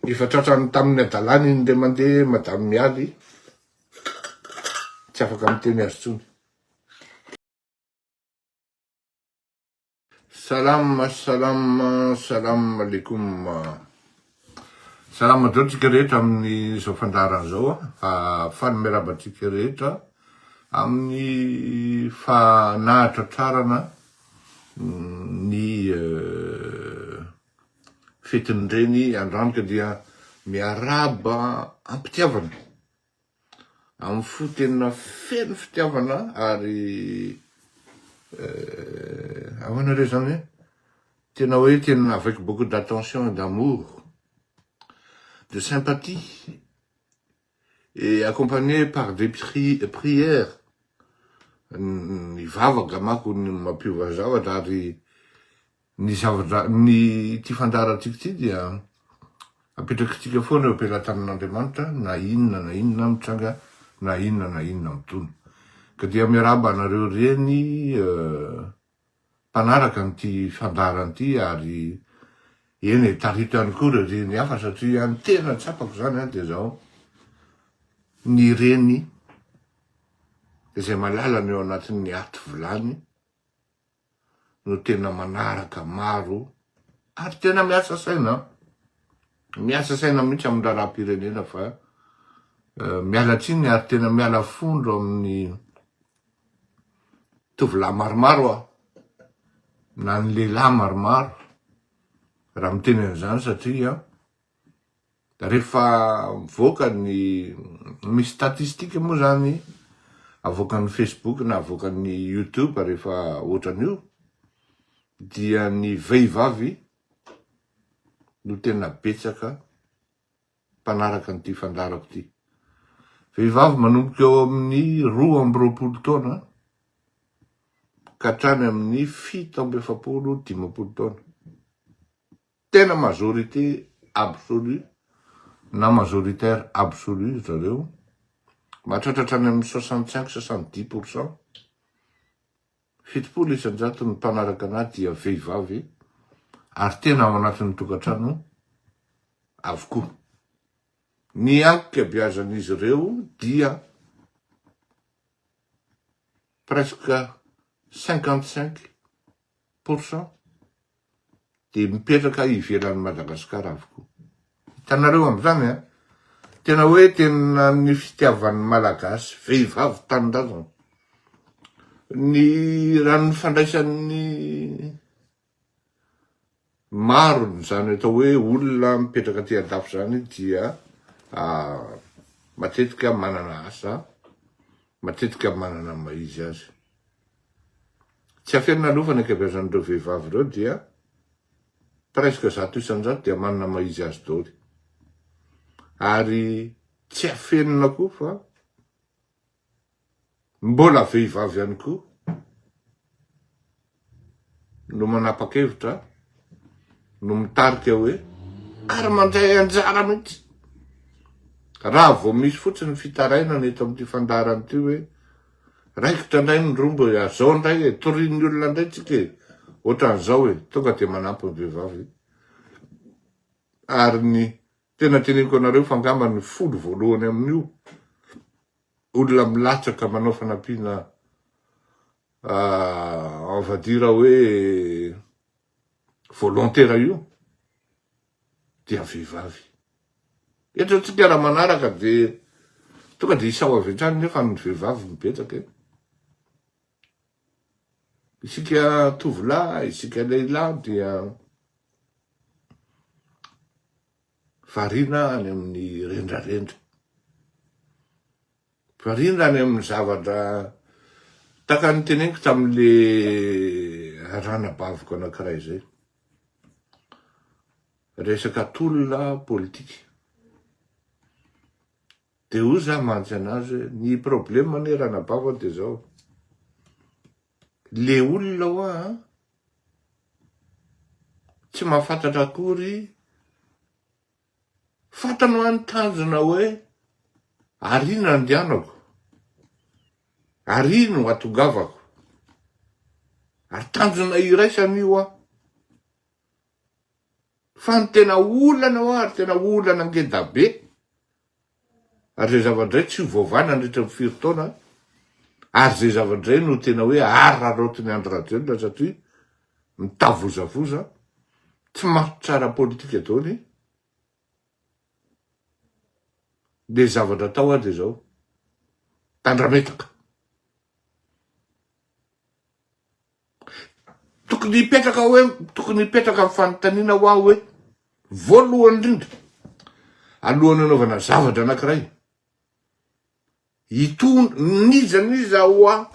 Efa tratrany tamin'ny adalany iny indray mandeha Madame Mialy. Tsy afaka miteny azy intsony. Salam, salam, salam alaikum. Salam adreo tsika rehetra amin'izao fandaharana izao. Faly miarahaba antsika rehetra amin'ny fanahatratrarana ny fetin'ny reny andranoka dia miarahaba am-pitiavana amin'ny fo tena feno fitiavana ary eh, ahoana re zany eh? tena hoe tena avec beaucoup d'attention et d'amour de sympathie Et accompagner par des prières, ny vava angamako no mampiova zavatra ary ny zavatra, ny ity fandaharantsika ity dia apetrakitsika foana eo am-pelatanan'Andriamanitra na inona na inona mitranga na inona na inona midona. Ka dia miarahaba anareo reny mpanaraka an'ity fandaharana ity ary eny e, tarihiko ihany koa ireo reny hafa satria ny tena tsapako izany dia izao, ny reny izay malalany ao anatin'ny aty vilany no tena manaraka maro ary tena miasa saina, miasa saina mihitsy amin'ny raharaham-pirenena fa miala tsiny ary tena miala fondro amin'ny tovolahy maromaro aho na ny lehilahy maromaro raha miteny an'izany satria rehefa mivoaka ny misy statistika moa zany avoakan'ny Facebook na avoakan'ny YouTube rehefa ohatran'io dia ny vehivavy no tena betsaka mpanaraka an'ity fandaharako ity. Vehivavy manomboka eo amin'ny roa amby roapolo taona ka hatrany amin'ny fito amby efapolo dimampolo taona. Tena majorité absolue na majoritaire absolue ry zareo, mahatratra hatrany amin'ny soixante cinq, soixante dix pour cent. Fitopolo isan-jato ny mpanaraka an'ahy dia vehivavy ary tena ao anatin'ny tokantrano avokoa. Ny ankabeazan'izy ireo dia presque cinquante cinq pour cent dia mipetraka ivelan'i Madagasikara avokoa. Hitanareo amin'izany an, tena hoe tena ny fitiavan'ny Malagasy vehivavy tanindrazana, ny raha ny fandraisan'ny maro izany atao hoe olona mipetraka aty an-dafy izany dia matetika manana asa, matetika manana ny maha izy azy. Tsy afenina aloha fa ny ankabeazan'ireo vehivavy ireo dia presque zato isan-jato dia manana ny maha izy azy daholo. Ary tsy afenina koa fa mbola vehivavy ihany koa no manapa-kevitra no mitarika hoe ary mandray anjara mihitsy raha vao misy fotsiny fitarainana eto amin'ity fandaharana ity hoe. Raikitra ndray ny rombo e, azao ndray e, torian'ny olona ndray tsika e, otran'zao e, tonga de manampy ny vehivavy ary ny tena teneniko anareo fa ngamba ny folo voalohany amin'io olona milatsaka manao fanampiana en va dire hoe volontera io dia vehivavy. Eto antsika raha manaraka dia tonga dia isao avy hatrany nefa ny vehivavy no betsaka e. Isika tovolahy, isika lehilahy dia variana any amin'ny rendrarendra. Variana any amin'ny zavatra tahaka ny teneniko tamin'ilay ranabaviko anankiray izay. Resaka tolona politika. Dia hoy za mantsy anazy hoe ny problème anie ranabavako dia izao, le olona hoa tsy mahafantatra akory Fantany hoa ny tanjona hoe ary no andianako, ary no atongavako. Ary tanjona iraisany io hoa. Fa ny tena olana hoa ary tena olana ngedabe, ary izay zava-dray tsy ho voavaha nandritra ny firy taona, ary izay zava-dray no tena hoe araraotin'i Andry Rajoelina satria mitavozavoza, tsy matotra ara-politika daholo, dia zavatra atao ary dia izao, tandrametaka. Tokony hipetraka hoe, tokony hipetraka ny fanontaniana ho ahy hoe, voalohany indrindra, alohan'ny hanaovana zavatra anankiray, itony, n'iza n'iza ho ahy,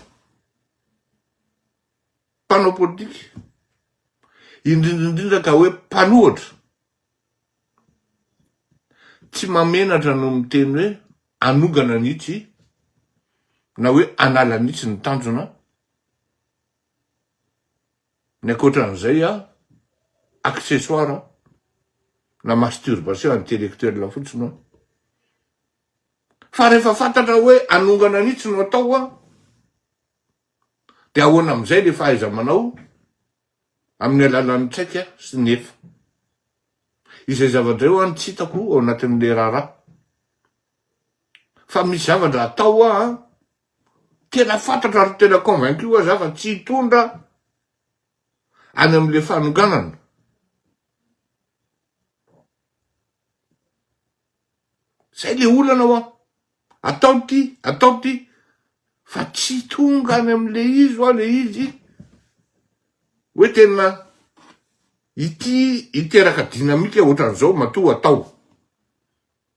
mpanao politika, indrindra indrindra ka hoe mpanohatra, Tsy mahamenatra no miteny hoe hanongana ny itsy na hoe hanala ny itsy ny tanjona. Ny ankoatran'izay an, accessoire na masturbation intellectuelle fotsiny an. Fa rehefa fantatra hoe hanongana ny itsy no atao an, dia ahoana amin'izay ilay fahaiza-manao? amin'ny alalan'ny traika sy ny efa. Izay zavatra izay ho'a no tsy hitako ao anatin'ilay raharaha. Fa misy zavatra atao ho'a an, tena fantatro ary tena convaincu ho'a za fa tsy hitondra any amin'ilay fanonganana. Zay le olana hoa. Atao ty, atao ty, fa tsy tonga any amle izy hoa le izy hoe tena ity hiteraka dynamique otran'zao matoa atao.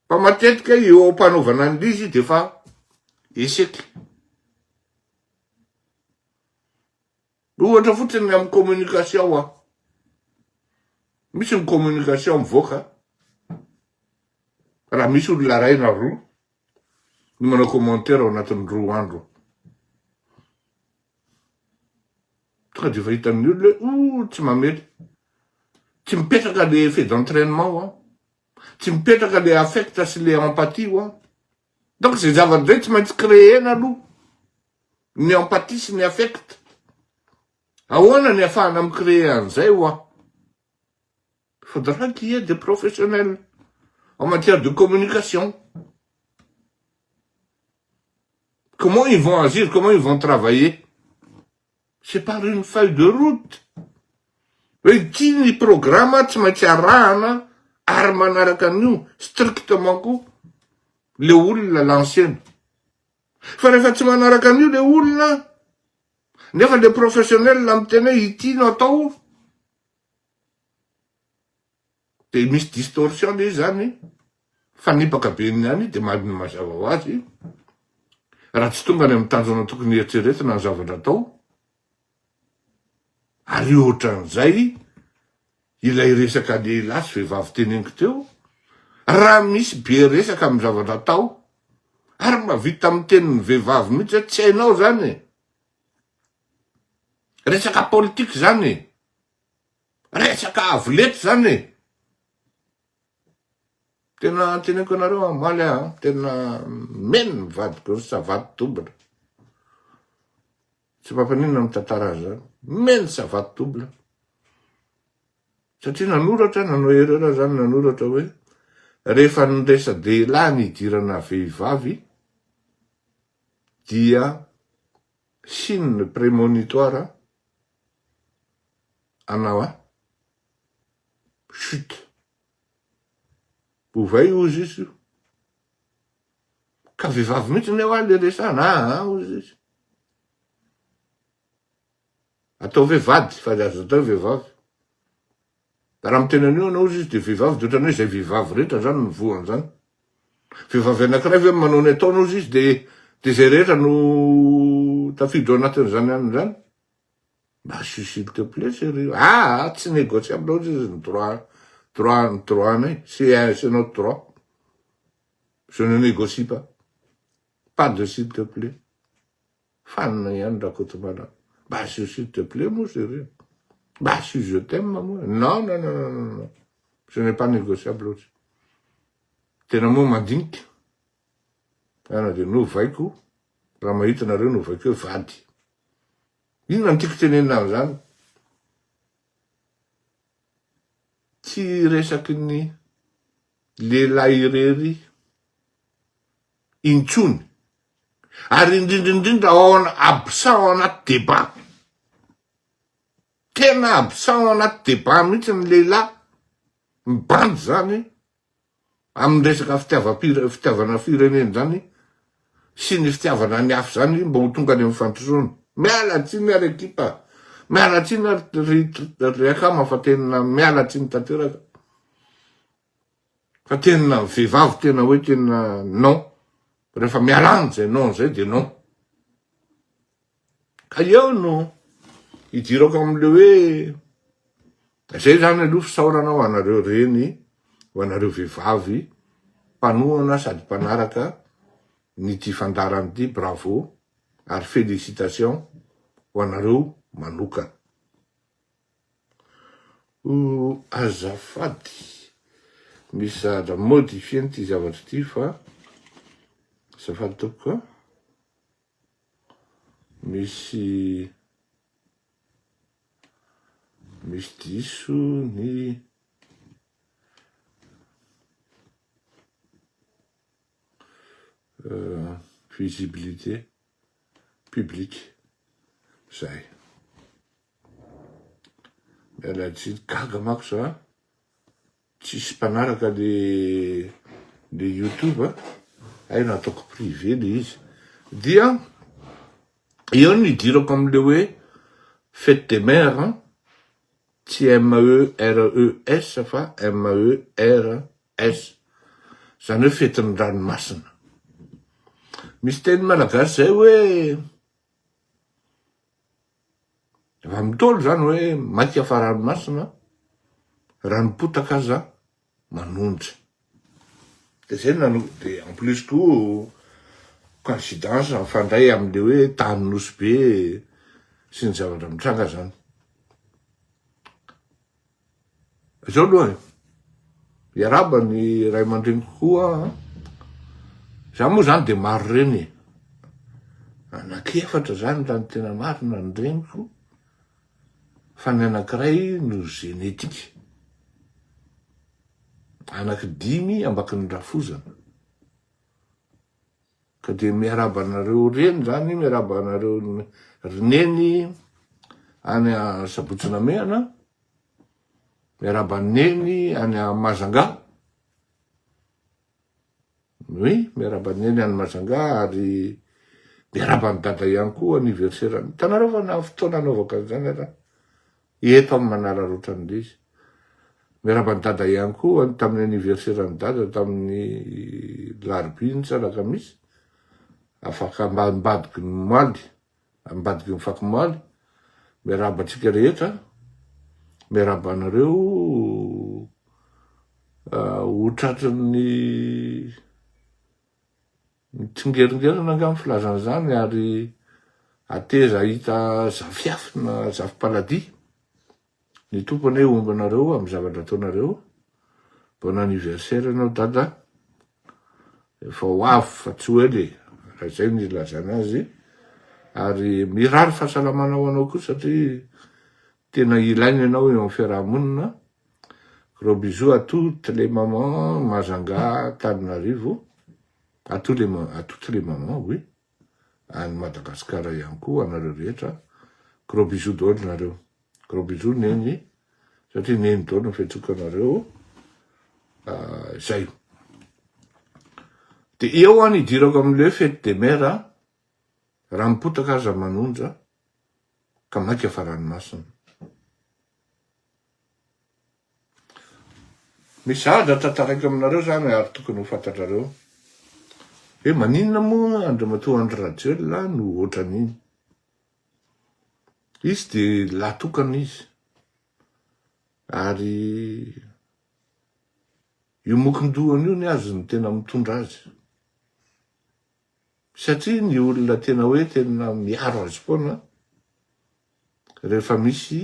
Fa matetika eo ampanaovana anle izy de efa échec. Ohatra fotsiny ny amin'ny communication an. Misy ny communication mivoaka raha misy olona iray na roa no manao commentaire ao anatin'ny roa andro. Tonga dia efa hitan'ny olona hoe oh tsy mamely. Tsy mipetraka le effet d'entrainement an. Tsy mipetraka le affect sy le empathie an. Donc zay zavatra zay tsy maintsy créer-na aloha ny empathie sy ny affect. Ahoana ny afahana mi-creer an'izay ho'a? Il faudra qu'il y ait des professionnels en matière de communication. Comment ils vont agir, comment ils vont travailler? C'est par une feuille de route hoe ity ny programa tsy maintsy arahana ary manaraka an'io strictement koa le olona lancena. Fa rehefa tsy manaraka an'io le olona nefa le professionnel miteny hoe ity no atao, dia misy distorsion le izy zany fanipaka be ny any dia maha mazava ho azy raha tsy tonga any amin'ny tanjona tokony eritreretina ny zavatra atao ary ohatran'izay ilay resaka lehilahy sy vehivavy teneniko teo raha misy be resaka amin'ny zavatra atao ary mba vita amin'ny tenin'ny vehivavy mihitsy hoe tsy hainao zany e. resaka politika zany e. Resaka avo lety zany e! Tena teneniko anareo amaly a, tena meno ny vadiko ry savaty double. Tsy mampaninona ny mitantara azy zany. Meno savaty double. Satria nanoratra, nanao erreur zany, nanoratra hoe rehefa ny resa-dehilahy ny hidirana vehivavy dia signe premonitoire anao a chut ovay ozy izy io ka vehivavy mihitsy ny hoa le resana aa ozy izy atao ve vady fa aza atao vehivavy Raha amin'ny tenany io ianao, hoy izy, dia vehivavy, dia ohatran'ny hoe izay vehivavy rehetra izany no voa an'izany. Vehivavy anankiray ve manao ny ataony, hoy izy, dia dia izay rehetra no tafiditra ao anatin'izany ihany izany? Mba asio s'il te plait chérie. Ah ah, tsy négociable, hoy izy, ny droit, droit, ny droit-nay, c'est c'est notre droit. Je ne négocie pas. Pas de s'il te plait. Fanina ihany Rakotomana. Mba asio s'il te plait moa zay ireny. Mba asio je t'aime moa. Non non non non non. Ce n'est pas négociable ozy. Tena moa mandinika. Ana dia novaiko raha mahita nareo novaiko hoe vady. Inona no tiako tenenina amin'izany? Tsy resaky ny lehilahy irery. intsony, ary indrindra indrindra ao absent ao anaty debat. Tena absent ao anaty debat mihitsy ny lehilahy, ny bandy izany amin'ny resaka fitiavana firenena izany sy ny fitiavana ny hafa izany mba ho tonga any amin'ny fandrosoana. Miala tsiny ary ekipa, miala tsiny ary ry akama fa tena miala tsiny tanteraka. Fa tena vehivavy tena hoe tena non, rehefa miala aminy zay non zay de non. Ka eo no idirako amle hoe zay zany aloha fisaorana ho anareo reny, ho anareo vehivavy mpanohana sady mpanaraka ny ty fandaharana ty, bravo ary felicitations ho anareo manokana. Oh azafady misy zahadra modifier an'ity zavatra ity fa azafady tompoko a misy misy diso ny euh, visibilité publique zay Miala tsiny, gaga manko za, tsisy mpanaraka le le youtube a, hay nataoko privé le izy, dia eo no idirako amle hoe fete des mères an, tsy MERES fa MERS, zany hoe fetin'ny ranomasina, misy teny malagasy zay hoe Raha mitôlo izany hoe maika fa ranomasina, raha ny potaka aza manonja. Dia izay no nanaovako, dia en plus koa coïncidence mifandray amin'ilay hoe tany Nosy Be sy ny zavatra mitranga izany. Zao aloha e, iarahaba ny ray aman-dreniko koa an, za moa zany de maro reny e, anaky efatra zany raha ny tena marina ny reniko fa ny anakiray no zenetika, anaky dimy ambakin'ny rafozana. Ka dia miarahaba anareo reny zany, miarahaba anareo ry neny any Sabotsy Namehana, miarahaba ny neny any Mazangà, oui, miarahaba ny neny any Mazangà ary miarahaba ny dada ihany koa anniversaire-ny. Hitanareo fa na fotoana anaovako an'izany aza, Eto am Manala Rotra ny Lisy. Miarahaba an'i Dada ihany koa an tamin'ny anniversaire an'i Dada tamin'ny larobia iny sa alakamisy. Afaka am ambadiky ny maly, ambadiky ny fako maly. Miarahaba antsika rehetra. Miarahaba anareo ho tratry ny Mitsingeringerina angaha ny filazana izany ary ateza hahita zafiafy na zafi-paladia. Ny Tompo anie homba anareo amin'ny zavatra ataonareo. Bon anniversaire anao Dada. Efa ho avy fa tsy ho ela e, raha izay no ilazana azy. Ary mirary fahasalamana ho anao koa satria tena ilaina ianao eo amin'ny fiaraha-monina Gros bisous à toutes les mamans, Majanga, Tananarivo, à tous les à toutes les mamans, oui, any Madagasikara ihany koa anareo rehetra, gros bisous daholo nareo, gros bisous neny, satria neny daholo ny fihetsiko anareo, ah, zay. De eo an idirako amin'le fête des mères, raha mipotaka aza manonja, ka maika fa ranomasina. Misy zavatra tantaraiko aminareo zany ary tokony ho fantatrareo hoe maninona moa Andriamatoa Andry Rajoelina no ohatran'iny. Izy dia lahy tokana izy. Ary io mokondohany io ny azy no tena mitondra azy. Satria ny olona tena hoe tena miaro azy foana rehefa misy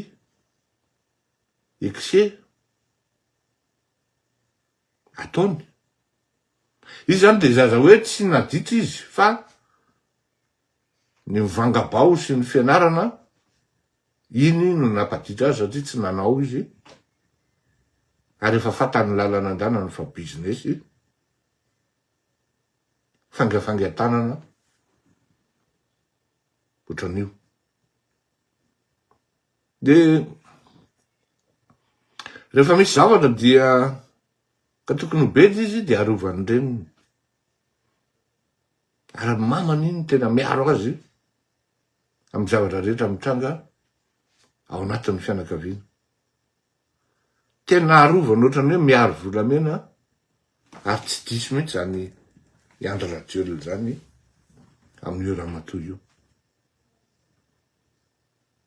excès ataony. Izy zany de zaza hoe tsy naditra izy fa ny mivanga-bao sy ny fianarana iny no nampaditra azy satria tsy nanao izy ary efa fatan'ny lalana an-danany fa business fangafangan-tanana ohatran'io. Dia rehefa misy zavatra dia ka tokony ho bedy izy dia arovan'ny reniny. Ary ny mamany iny tena miaro azy amin'ny zavatra rehetra mitranga ao anatin'ny fianakaviana. Tena arovany ohatran'ny hoe miaro volamena ary tsy diso mihitsy izany i Andry Rajoelina izany amin'io ramatoa io.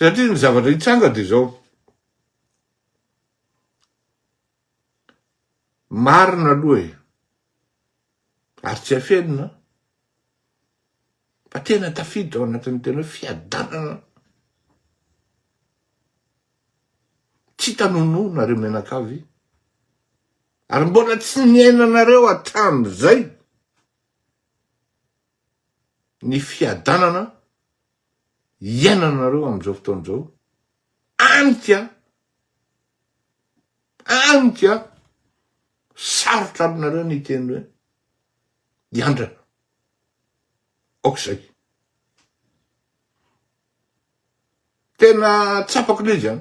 Satria ny zavatra hitranga dia izao, marina aloha e, ary tsy afenina fa tena tafiditra ao anatin'ny tena hoe fiadanana tsy hita nonoa nareo mianakavy, ary mbola tsy niainanareo hatramin'izay. ny fiadanana iainanareo amin'izao fotoana izao, any ka, any ka, sarotra aminareo ny hiteny hoe hiandrana, aok'izay. Tena tsapako ilay izy an,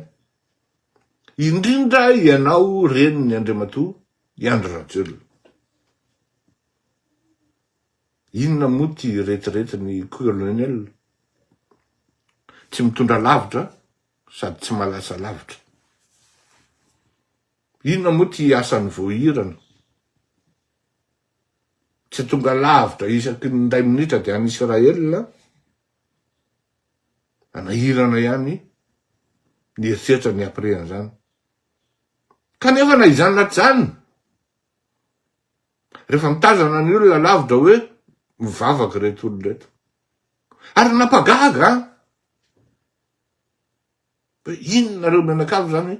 indrindra ianao renin'ny Andriamatoa i Andry Rajoelina. Inona moa ty retirety ny colonel? Tsy mitondra lavitra sady tsy malasa lavitra. Inona moa ty asany voahirana? Tsy tonga lavitra isaky ny indray minitra dia any Israel, anahirana ihany ny eritreritra ny après an'izany. Kanefa na izany na tsy izany, Rehefa mitazana ny olona lavitra hoe mivavaka ireto olona ireto. Ary nampagaga ahy. Hoe inona nareo mianakavy zany?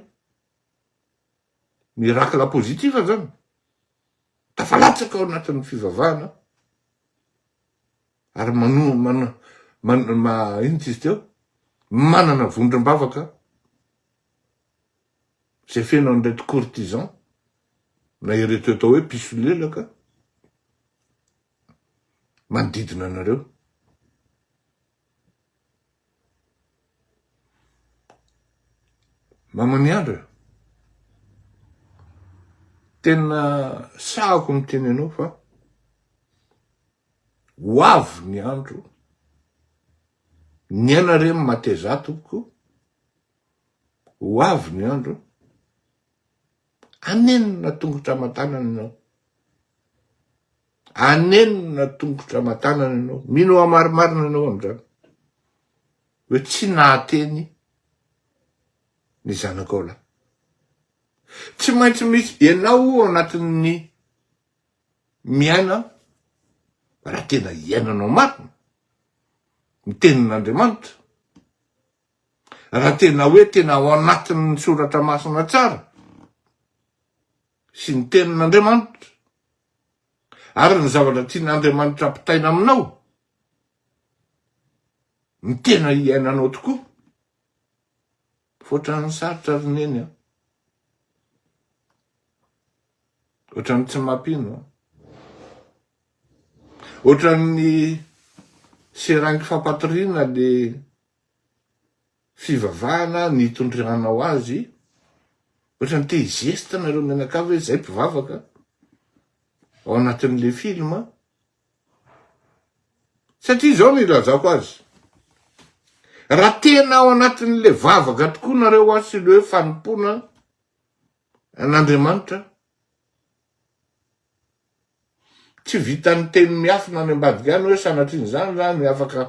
Miracle positif zany. Tafalatsaka ao anatin'ny fivavahana. Ary manu, man, man, ma, inona izy teo? Manana vondrom-bavaka. izay feno an'ireto courtisans na ireto atao hoe mpisolelaka manodidina anareo. Mama miandra, tena sahako miteny anao fa ho avy ny andro ny anareo matezato ko Ho avy ny andro anenina tongotra aman-tanana ianao. Anenina tongotra aman-tanana ianao. Mino hoa marimarina ianao amin'izany. Hoe tsy nahateny ny zanakao lahy. Tsy maintsy misy ianao ao anatin'ny miaina raha tena iainanao marina ny tenin'Andriamanitra. raha tena hoe tena ao anatin'ny soratra masina tsara sy ny tenin'Andriamanitra ary ny zavatra tian'Andriamanitra ampitaina aminao ny tena iainanao tokoa foatra ny sarotra ry neny an ohatran'ny tsy mampino ohatran'ny seranky fampatoriana le fivavahana nitondranao azy, ohatrany te hi-geste nareo mianakavy hoe zay mpivavaka ao anatin'le film, satria zao no ilazako azy, raha tena ao anatin'le vavaka tokoa nareo an sy le hoe fanompoana an'Andriamanitra, Tsy vitan'ny teny miafina any ambadika any hoe sanatrian'izany izany afaka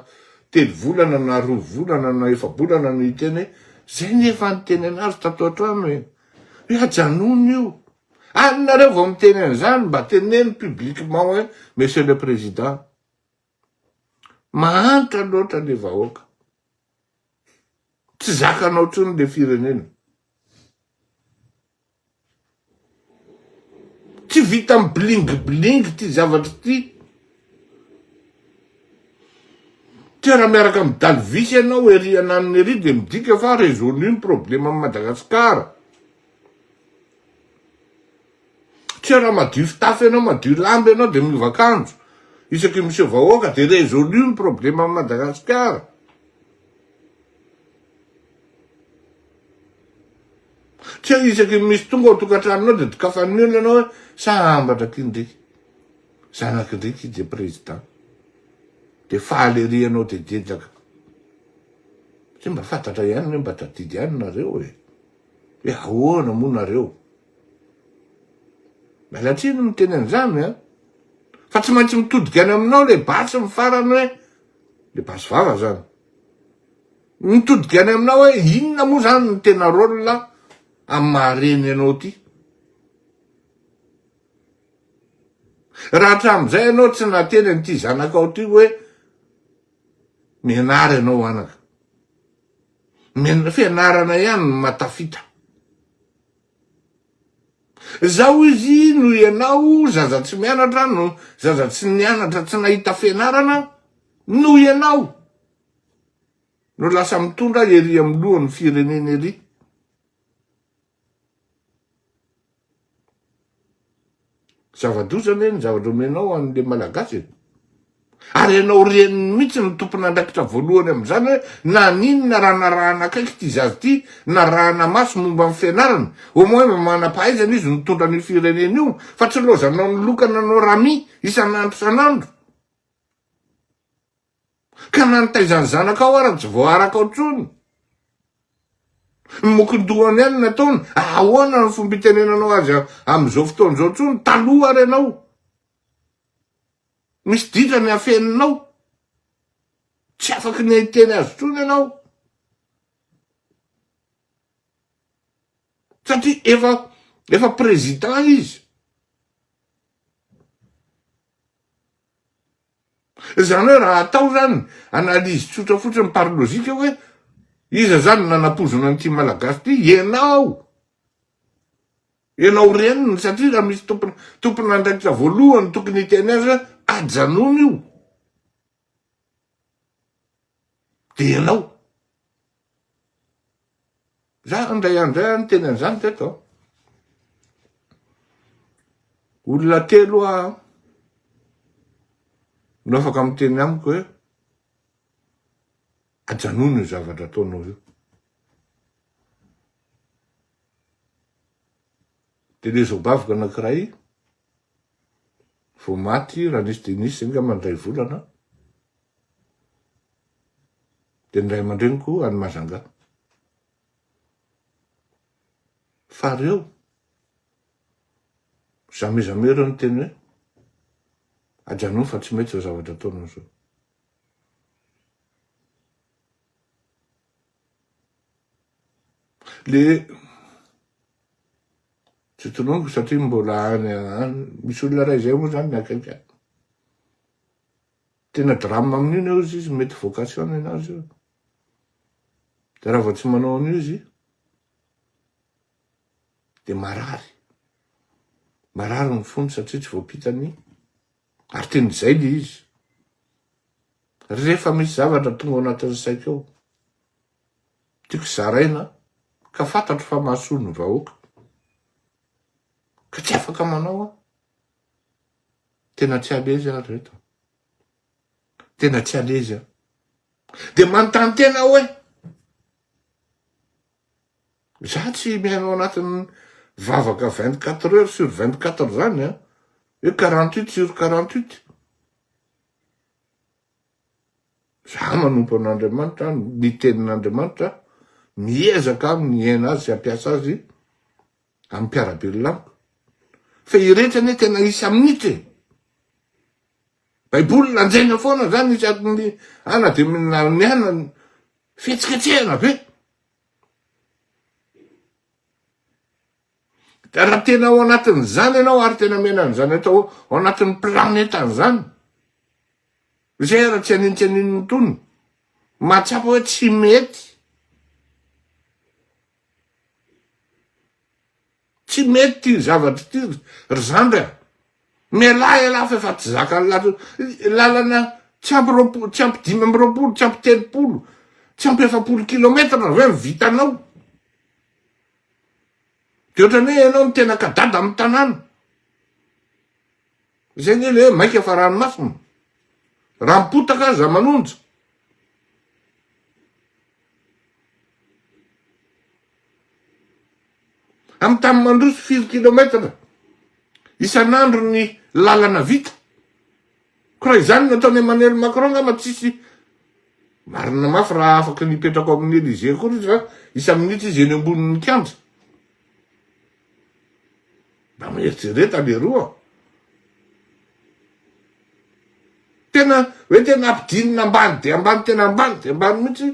telo volana na roa volana na efa-bolana no hiteny hoe izay ny efa niteny an'azy tato an-trano e! hoe ajanony io! Any nareo vao miteny an'izany mba teneno publiquement hoe monsieur le président! Mahantra loatra le vahoaka. Tsy zakanao tsony le firenena. Tsy vita am bling bling ty zavatry ty. Tsy raha miaraka am dalvis ianao ery ananona ery de midika fa resolu ny problema am Madagascar. Tsy raha madio fitafy ianao, madio lamba ianao dia miova akanjo isaky miseho vahoaka dia résolu ny problème am Madagasikara. Tsy hoe isaky ny misy tonga ao tokantranonao dia dokafan'ny olona ianao hoe sa ambatra akia ndriky, zanaky ndriky i dia président. Dia faly ery ianao dia dedaka. Tsy mba fantatra ihany hoe mba tadidy ihany nareo e. Hoe ahoana moa nareo. Miala tsiny miteny an'izany a! Fa tsy maintsy mitodika any aminao ilay basy ny farany hoe, ilay basy vava izany. Mitodika any aminao hoe inona moa izany no tena rôle amin'ny maha-reny anao ity. Raha hatramin'izay ianao tsy nateny an'ity zanakao ity hoe mianara ianao anaka. Fianarana ihany no mahatafita. Zao izy no ianao zaza tsy mianatra no zaza tsy nianatra tsy nahita fianarana no ianao no lasa mitondra ery amin'ny lohan'ny firenena ery. Zava-doza ve ny zavatra omenao an'le Malagasy e? Ary ianao reniny mihitsy no tompon'andraikitra voalohany amin'izany hoe naninona raha narahana akaiky ity zaza ity, narahana maso momba ny fianarana, au moins mba manam-pahaizana izy mitondra an'io firenena io fa tsy lozanao ny lokana anao Rami isan'andro isan'andro. Ka na ny taizan'ny zanakao ara tsy voarakao intsony. Ny mokondohany ihany nataony, ahoana ny fomba itenenanao azy amin'izao fotoana izao intsony, taloha ary ianao. Misy ditra ny afeninao. Tsy afaka ny hiteny azy intsony ianao. Satria efa efa président izy. Izany hoe raha atao izany analyse tsotra fotsiny par logique hoe iza izany no nanapoizina an'ity Malagasy ity? Ianao! Ianao reniny satria raha misy tompon tompon'andraikitra voalohany tokony hiteny azy hoe ajanony io. Dia ianao. Za indray andro zay niteny an'izany teto an. Olona telo a no afaka miteny amiko hoe ajanony io zavatra ataonao io. Dia le zobaviko anankiray Vao maty Ranisy Denis angamba indray volana dia ny ray aman-dreniko any Majanga. Fa reo, jamais jamais ireo niteny hoe ajanony fa tsy mety izao zavatra ataonao izao. Le tsy tononiko satria mbola any any misy olona ray izay moa zany miakaiky any tena drame amin'io ny ozy izy mety vocation enazy io de raha vao tsy manao an'io izy de marary marary ny fony satria tsy voampitany Ary teny izay le izy. Rehefa misy zavatra tonga ao anatin'ny saiko ao, tiako zaraina ka fantatro fa mahasoa ny vahoaka, ka tsy afaka manao aho. Tena tsy à l'aise aho ry reto. Tena tsy à l'aise aho. Dia manontany tena hoe. Za tsy miaina ao anatin'ny vavaka vingt quatre heures sur vingt quatre zany an! Hoe quarante huit sur quarante huit. Za manompo an'Andriamanitra, ny tenin'Andriamanitra, miezaka aho miaina azy sy hampiasa azy amin'ny mpiara-belona amiko. Fa ireto anie tena isa minitra e! Baiboly lanjaina foana zany isaky ny, na dia mihinana Fihetsiketsehana ve? Ka raha tena ao anatin'izany ianao ary tena mena an'izany atao ao anatin'ny planeta an'izany, izay ara tsy anino tsy anino ny tonony, mahatsapa hoe tsy mety. Tsy mety ity zavatra ity ry zandry a! Mialà ialahy fa efa tsy zakan'ny lalana, lalana tsy ampy roapolo, tsy ampy dimy amby roapolo, tsy ampy telopolo, tsy ampy efapolo kilometatra ve no vitanao? Dia ohatran'ny hoe ianao no tena kadada amin'ny tanàna. Izay anie ilay hoe maika fa ranomasina. Raha mipotaka aza manonja. Amin'ny tany mandroso firy kilometatra isan'andro ny lalana vita. Ko raha izany no ataon'i Emmanuel Macron angamba tsisy marina mafy raha afaka ny hipetraka ao amin'ny Elysée akory izy fa isa-minitra izy eny ambonin'ny kianja. Mba mieritrereta leroa. Tena hoe tena ampidinina ambany dia ambany tena ambany dia ambany mihitsy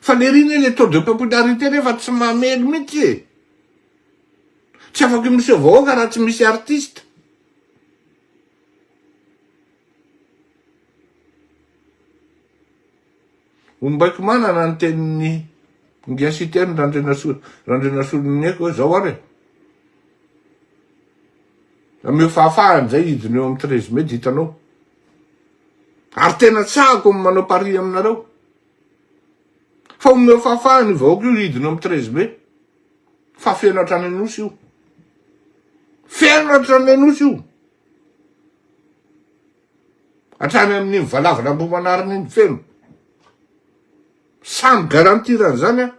Faniriana ilay taux de popularité nefa tsy mamely mihitsy e! Tsy afaka miseho vahoaka raha tsy misy artiste. Ombaiko manana ny tenin'ny Ngia Siteny Randrianasolo Randrianasoloniaiko hoe zao ary e! Ameo fahafahana izay hidina eo amin'ny treize mai dia hitanao. Ary tena tsahako ny manao pari aminareo. Fa omeo fahafahana io vahoaka io hidina amin'ny treize mai. Fa feno hatrany Anosy io. Feno hatrany Anosy io. Hatrany amin'ny valavana ambomanarina iny feno. Samy garantir an'izany aho.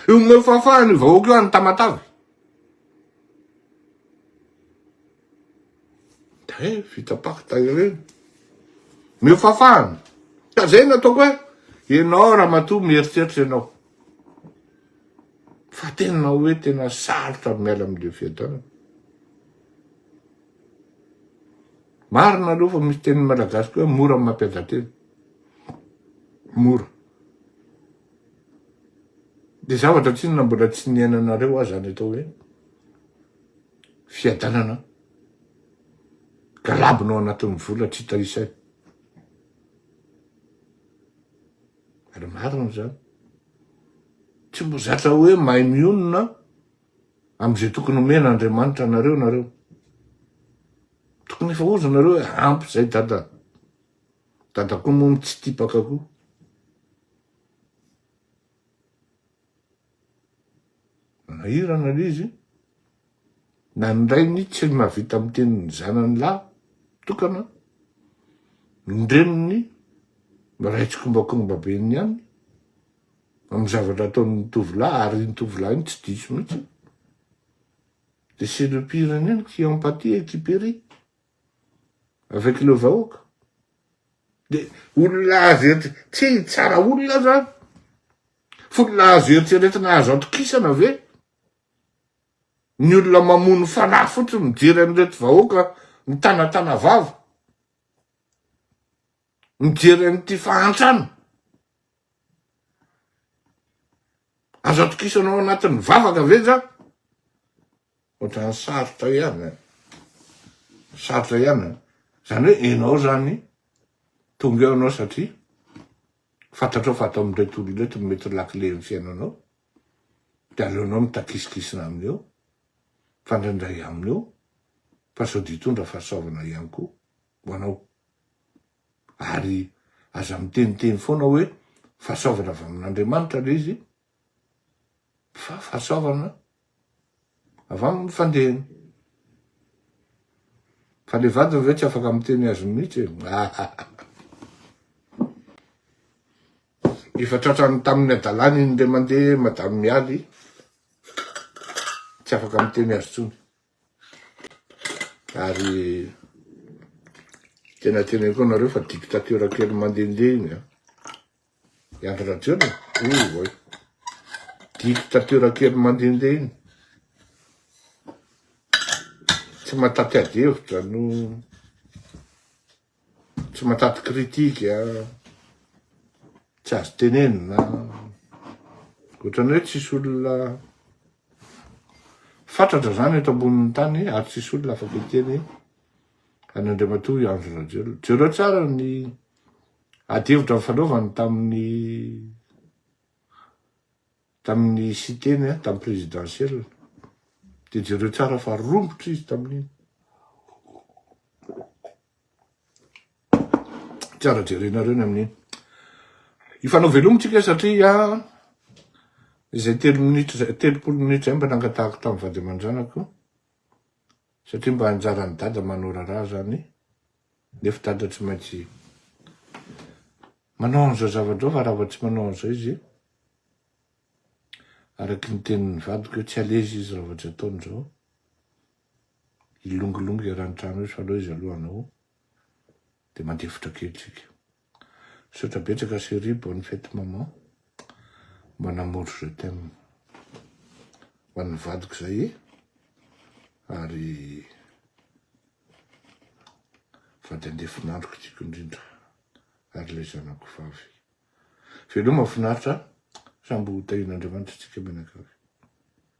Io omeo fahafahana io vahoaka io any Tamatave. Dia vita pacte ireny. Omeo fahafahana. Ka zay nataoko hoe ianao ramatoa mieritreritra ianao. Fa tena hoe tena sarotra ny miala amin'ilay fiadanana. Marina aloha fa misy teny malagasy koa mora mampiadan-tena. Mora. Dia zavatra tsinona mbola tsy niainanareo aza ny atao hoe fiadanana galabona ao anatin'ny vola tsy hita isa io. Ary marina izany. Tsy mbo zatra hoe mahay mionona amin'izay tokony omena Andriamanitra anareo nareo. Tokony efa ozonareo hoe ampy izay dada. Dadako moa mitsitipaka koa. Manahirana le izy. Na ny rainy tsy mahavita miteny ny zanany lahy tokana, ny reniny maray tsikombakomba be ny any amin'ny zavatra ataon'ny tovolahy ary iny tovolahy iny tsy diso mihitsy. De c'est le pire indrindra qui en patie et qui périt. Avekileo vahoaka. Dia olona azo eritreretina, tsy tsara olona zany. F'olona azo eritreretina azo atokisana ve? Ny olona mamono fanahy fotsiny mijery an'ireto vahoaka mitanatana vava. Mijery an'ity fahantrana. Azo atokisana ao anatin'ny vavaka ve zany? Ohatran'ny sarotra ihany an! Sarotra ihany an! Izany hoe ianao izany tonga eo ianao satria fantatrao fa ato amin'ireto olona ireto no mety ho lakile ny fiainanao, dia aleonao mitakisikisina aminy eo, mifandraindray aminy eo, fa sao dia hitondra fahasoavana ihany koa ho anao. Ary aza miteniteny foana hoe fahasoavana avy amin'Andriamanitra ilay izy Fa fahasoavana avy amin'ny fandehany. Fa le vadiny ve tsy afaka miteny azy mihitsy e. Efa tratrany tamin'ny adalany iny le mandeha madame Mialy, tsy afaka miteny azy tsony. Ary tena teneniko anareo fa dictature kely mandehandeha iny an. I Andry Rajoelina e! oh oay! Dictature kely mandehandeha iny! Tsy mataty ady hevitra no tsy mataty critique a! Tsy azo tenenina a! Ohatran'ny hoe tsisy olona fatratra zany eto ambonin'ny tany ary tsisy olona afaka hiteny an'Andriamatoa i Andry Rajoelina. Jereo tsara ny Adihevitra nifanaovany tamin'ny tamin'ny Siteny an, tamin'ny Présidentielle. Dia jereo tsara fa romotra izy tamin'iny. Tsara jerenareo ny amin'iny. Hifanao veloma tsika satria izay telo minitra izay, telopolo minitra izay mba nangatahako tamin'ny vady aman-janako, satria mba anjaran'i Dada manoraraha izany nefa dada tsy maintsy manao an'izao zavatra fa raha vao tsy manao an'izao izy araky ny tenin'ny vadiko hoe tsy alezy izy raha vao tsy ataony izao hilongilongy eran-trano izy fa aleo izy aloha hanao dia mandeha fotra kely tsika Misaotra betsaka chérie, bonne fête maman, mba namory je t'aime ho an'ny vadiko zay ary vady andefon'androko tiako indrindra ary ilay zanako vavy. Veloma finaritra, sambo tahian'Andriamanitra tsika mianakavy.